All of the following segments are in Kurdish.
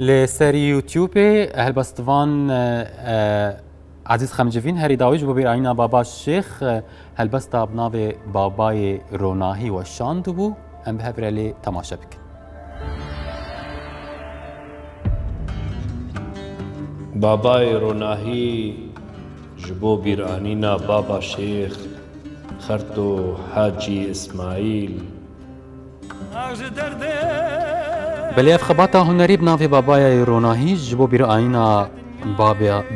Li ser YouTubeê helbestvan Ezîz Xemcivîn herî dawî ji bo bîr ayîna Baba Şêx helbesta bi navê Babayê Ronahî weşandibû. Em bi hev re lê temaşe bikin. Babayê Ronahî ji bo bîranîna Baba Şêx Xerto Hacî Îsmaîl, Belê ev xebata hunerî bi navê Babayayê Ronahî ji bo bîrayîna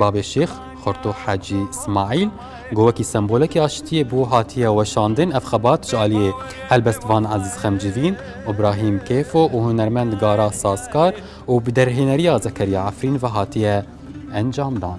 Babê Şêx Xorto Hecî Smaîl ku wekî sembolekî aştiyê bû hatiye weşandin. Ev xebat ji aliyê helbestvan Ezîz Xemcivîn, Îbrahîm Kêfo û hunermend Gara Sazkar û bi derhêneriya Zekeriya Efrîn ve hatiye encamdan.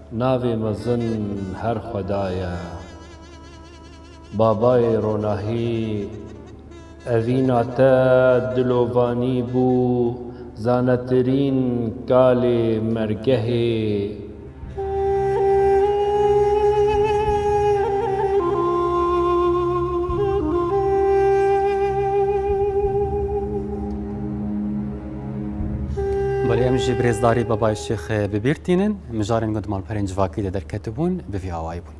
Navê mezin her xweda ye. Babayê ronahî evîna te dilovanî bû zanetirîn kalê mergehê. Belê em jî birêzdarî Babayê Şêx bi bîr tînin. Mijarên gund Malperên Civakî de derketibûn, bi vî awayî bûn.